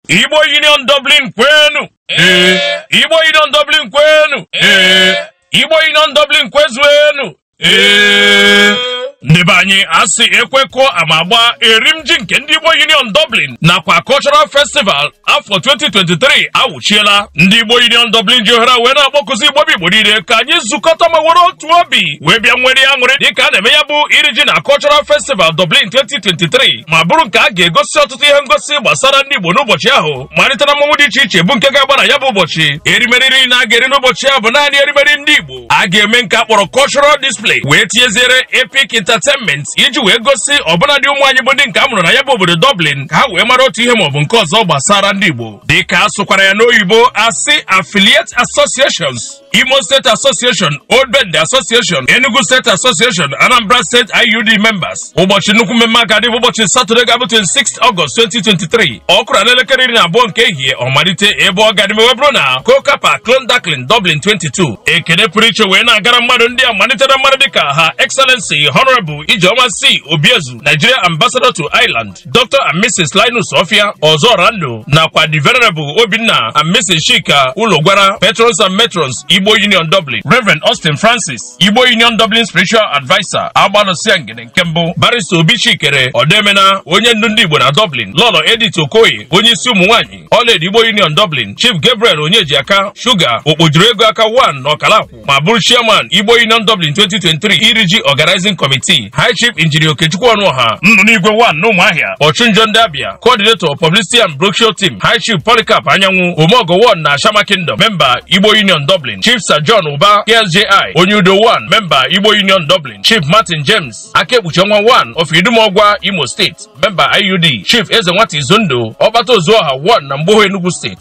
Igbo Union Dublin kwenu Igbo Union Dublin kwenu Igbo Union Dublin kwezuenu ndị be anyị a sị ekwekọ ama agba erim ji nke ndị Igbo Union Dublin nakwa Cultural Festival afọ 2023 awụchiela ndị Igbo Union Dublin ji ohere wee na-akpọkụzi Igbo bụ Igbo niile ka anyị zukọta ma were otu obi wee bịa nwere ya nwere dịka a na-eme ya bụ iri ji na Cultural Festival Dublin 2023 ma bụrụ nke a ga-egosi ọtụtụ ihe ngosi gbasara ndị Igbo n'ụbọchị ahụ malite na mmanwụ dị iche iche bụ nke ga-agba na ya bụ ụbọchị erimeri niile a ga-eri n'ụbọchị ahụ bụ naanị erimeri ndị Igbo a ga-eme nke a kpọrọ cultural display wee tinyeziere Epic Entertainment iji wee gosi ọbụladị ụmụ anyị bụ ndị nke a mụrụ na ya bụ obodo Dublin ka ha wee mara otu ihe maọbụ nke ọzọ gbasara ndị Igbo dịka a sụkwara ya n'oyibo asị affiliate associations Imo State Association, Old Bendel Association, Enugu State Association, Anambra State IUD members. Ụbọchị nnukwu mmemme a ga-adị bụ ụbọchị Satọde ga-abụ 26 Ọgọst 2023. Ọ kụrụ n'elekere iri na abụọ nke ehihie ọ malite ebe ọ ga-eme wee bụrụ na Corkagh Park Clondalkin Dublin 22. Ekele pụrụ iche wee na-agara mmadụ ndị a malite na mmadụ dịka Her Excellency Honorable Ijeoma C. Obiezu, Nigeria Ambassador to Ireland. Dr. and Mrs. Linus Offiah Ọzọrando nakwa the Venerable Obinna and Mrs. Chika Ulogwara Patrons and Matrons Igbo Union Dublin Reverend Austin Francis Igbo Union Dublin Spiritual Advisor Agbalụsịa Ngene nke mbụ Barrister Obichikere Odoemena onye ndu ndị Igbo na Dublin Lọlọ Edith Okoye onye isi ụmụ nwaanyị Ọlaedo Igbo Union Dublin Chief Gabriel Onyejiaka Shuga okpojuru ego aka 1 na ọkala ma bụrụ chairman Igbo Union Dublin 2023 iri ji organizing committee High Chief Injinia Okechukwu Ọnụọha nnụ n'igwe 1 n'Ụmụahịa ọchụnjọ ndị Abịa coordinator publicity and brochure team High Chief Polycarp Anyanwụ Omeọgọ 1 na Ashama Kingdom memba Igbo Union Dublin Chief Sir John Uba KSJI onye udo 1 memba Igbo Union Dublin Chief Martin James aka ekpuchi ọnwa 1 of Idumọgwa Imo State memba IUD Chief Eze Nwata Izundụ Ọkpata Ozuọha 1 na Mgbowo Enugu State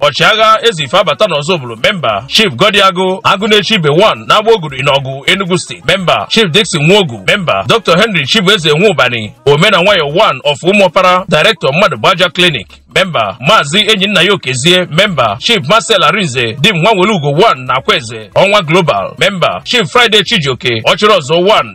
ọchịagha eze ife abata n'ọzụbụlụ memba chief goddy agụ agụ na-eche ibe 1 n'agbaogugu n'awgu enugu steeti memba chief dixon nwogu memba dr henry chibueze nwaubani omena nwayọ 1 of ụmụọpara director mmadụ gbaja clinic memba maazị enyinnaya okezie memba chief marcel arinze dim nwanwelugo 1 na akwaeze ọnwa global memba chief friday chijioke ọchịrị ozuo 1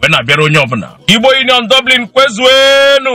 wee na-abịara onye ọbụla Igbo Union Dublin kwezuenu